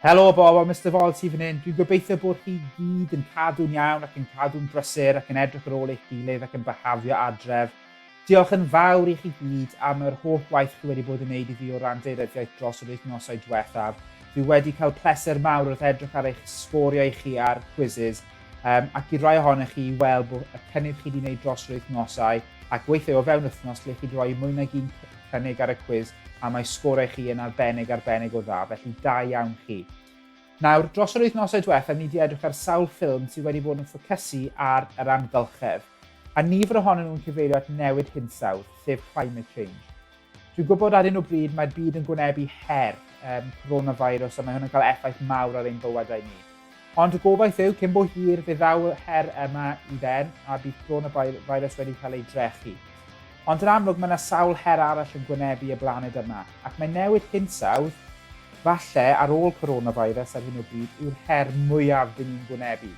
Helo o bobl, Mister Vol ti fan hyn. Dwi'n gobeithio bod chi gyd yn cadw'n iawn ac yn cadw'n brysur ac yn edrych ar ôl eich gilydd ac yn byhafio adref. Diolch yn fawr i chi gyd am yr holl waith chi wedi bod yn neud i fi o ran deiryddiaeth dros yr wythnosau diwethaf. Dwi wedi cael pleser mawr wrth edrych ar eich sgoriau chi ar quizzes um, ac i rai ohonych chi i weld bod y cynnydd chi wedi gwneud dros yr wythnosau ac weithiau o fewn wythnos lle chi wedi rhoi mwy nag un cynnig ar y cwiz a mae sgorau chi yn arbennig arbennig o dda, felly da iawn chi. Nawr, dros yr wythnosau diwethaf, ni wedi edrych ar sawl ffilm sydd wedi bod yn ffocysu ar yr amgylchedd, a nifer ohonyn nhw'n cyfeirio at newid hinsawdd, sef climate change. Dwi'n gwybod ar un o bryd mae'r byd yn gwynebu her um, coronavirus a mae hwn yn cael effaith mawr ar ein bywydau ni. Ond y gobaith yw, cyn bo hir, fe ddaw yr her yma i ben a bydd coronavirus wedi cael ei drechu. Ond yn amlwg mae yna sawl her arall yn gwynebu y blaned yma, ac mae newid hinsawdd, falle ar ôl coronavirus ar hyn o bryd, yw'r her mwyaf dyn ni'n gwynebu.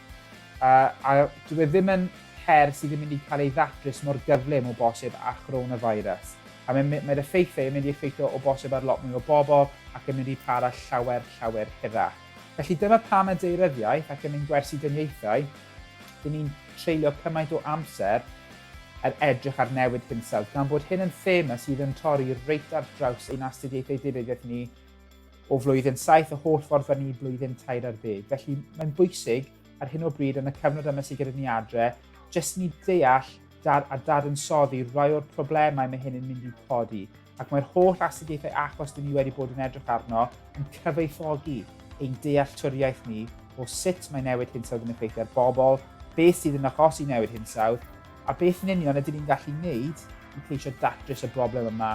Uh, a dwi e ddim yn her sydd yn mynd i cael ei ddatrys mor gyflym o bosib â chronavirus. A mae'r mae, mae effeithiau yn mynd i effeithio o bosib ar lot mwy o bobl ac yn mynd i para llawer, llawer hirach. Felly dyma pam y deiryddiaeth ac yn ein gwersi dyniaethau, dyn ni'n treulio cymaint o amser er edrych ar newid hinsawdd, gan bod hyn yn thema sydd yn torri reit ar draws ein astudiaethau deiryddiaeth ni o flwyddyn saith y holl ffordd fan i blwyddyn tair ar ddeg. Felly mae'n bwysig ar hyn o bryd yn y cyfnod yma sydd gyda ni adre, jyst ni deall dar, a dadansoddi rai o'r problemau mae hyn yn mynd i codi. Ac mae'r holl astudiaethau achos dyn ni wedi bod yn edrych arno yn cyfoethogi ein dealltwriaeth ni o sut mae newid hinsawdd yn effeithio ar bobl, beth sydd yn achosi newid hinsawdd, a beth yn union ydyn ni'n gallu wneud i ceisio datrys y broblem yma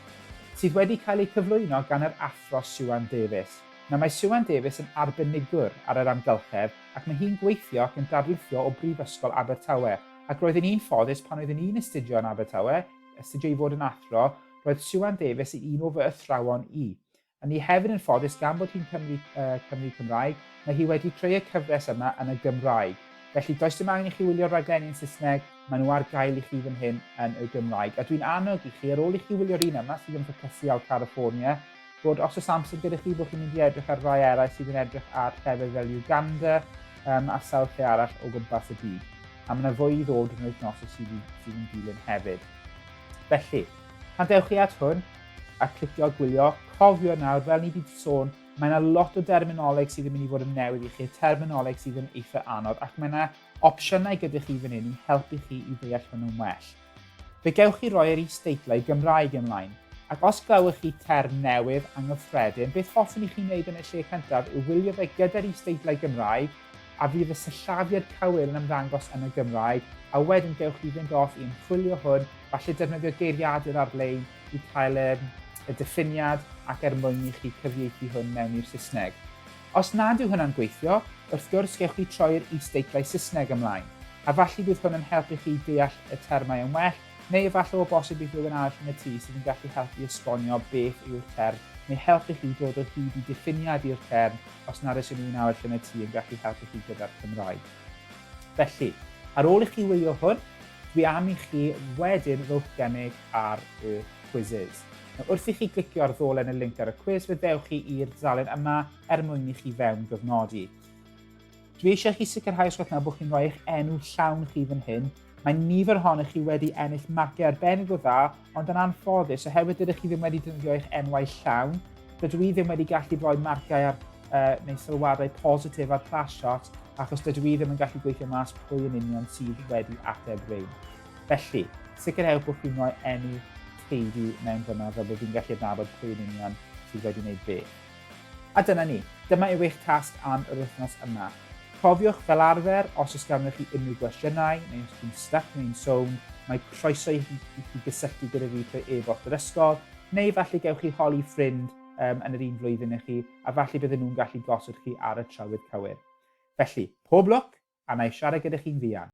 sydd wedi cael eu cyflwyno gan yr Athro Siwan Davies. Nawr mae Siwan Davies yn arbenigwr ar yr amgylchedd ac mae hi'n gweithio ac yn darlithio o Brifysgol Abertawe ac roedd yn un ffodus pan oeddwn i'n astudio yn Abertawe, astudio i fod yn athro, roedd Siwan Davies yn un o fy athrawon i. A ni hefyd yn ffodus gan bod hi'n Cymry, yy, Cymry Cymraeg, mae hi wedi creu y cyfres yma yn y Gymraeg. Felly, does dim angen i chi wylio'r raglenni yn Saesneg, maen nhw ar gael i chi fan hyn yn y Gymraeg. A dwi'n annog i chi, ar ôl i chi wylio'r un yma, sydd yn ffocysu ar California, bod os oes amser gyda chi, bod chi'n mynd i edrych ar rai eraill sydd yn edrych ar llefydd fel Uganda um, a sawl lle arall o gwmpas y byd. A mae yna fwy i ddod yn yr wythnosau sydd, sydd yn dilyn hefyd. Felly, pan dewch chi at hwn, a clicio gwylio. Cofio nawr, fel ni wedi sôn, mae yna lot o derminoleg sydd yn mynd i fod yn newydd i chi, y terminoleg sydd yn eitha anodd, ac mae yna opsiynau gyda chi fan hyn i helpu chi i ddeall hwnnw'n well. Fe gewch chi roi yr is-deitlau Gymraeg ymlaen, ac os glywch chi term newydd anghyffredin, beth hoffwn i chi wneud yn y lle cyntaf yw wylio fe gyda'r is-deitlau Gymraeg, a fydd y syllafiad cywir yn ymddangos yn y Gymraeg, a wedyn gewch chi fynd off i ymchwilio hwn, falle defnyddio geiriadur ar-lein, i cael y, y diffiniad ac er mwyn i chi cyfieithu hwn mewn i'r Saesneg. Os nad yw hwnna'n gweithio, wrth gwrs gewch chi troi'r is-deitlau Saesneg ymlaen, a falle bydd hwn yn helpu chi deall y termau yn well, neu efallai o bosib bydd rhywun arall yn y tŷ sydd yn gallu helpu esbonio beth yw'r term, neu helpu chi dod o hyd i diffiniad i'r term os nad oes unrhyw un arall yn y tŷ yn gallu helpu chi gyda'r Cymraeg. Felly, ar ôl i chi wylio hwn, Dwi am i chi wedyn rowch gennyg ar y quizzes. Nawr, wrth i chi glicio ar ddolen y linc ar y cwis, fe ddewch chi i'r dudalen yma er mwyn i chi fewn gyfnodi. Dwi eisiau chi sicrhau os gwelwch na bod chi'n rhoi eich enw llawn chi fan hyn. Mae nifer ohonych chi wedi ennill magiau arbennig o dda, ond yn anffodus, oherwydd dydych chi ddim wedi defnyddio eich enwau llawn, dydw i ddim wedi gallu rhoi marciau ar uh, neu sylwadau positif ar Plashot achos dydw i ddim yn gallu gweithio mas pwy yn union sydd wedi ateb rein. Felly, sicrhewch bod chi'n rhoi enw teulu mewn dyma fel bod fi'n gallu adnabod pwy yn union sydd wedi gwneud be. A dyna ni, dyma yw eich tasg am yr wythnos yma. Cofiwch fel arfer, os oes ganddo chi unrhyw gwestiynau, neu os chi'n stuck neu'n sôn, mae croeso i chi, i chi gysylltu gyda fi trwy e-bost yr ysgol, neu falle gewch chi holi ffrind um, yn yr un flwyddyn i chi, a falle bydden nhw'n gallu gosod chi ar y trywydd cywir. Felly, pob lwc, a na i siarad gyda chi'n fuan.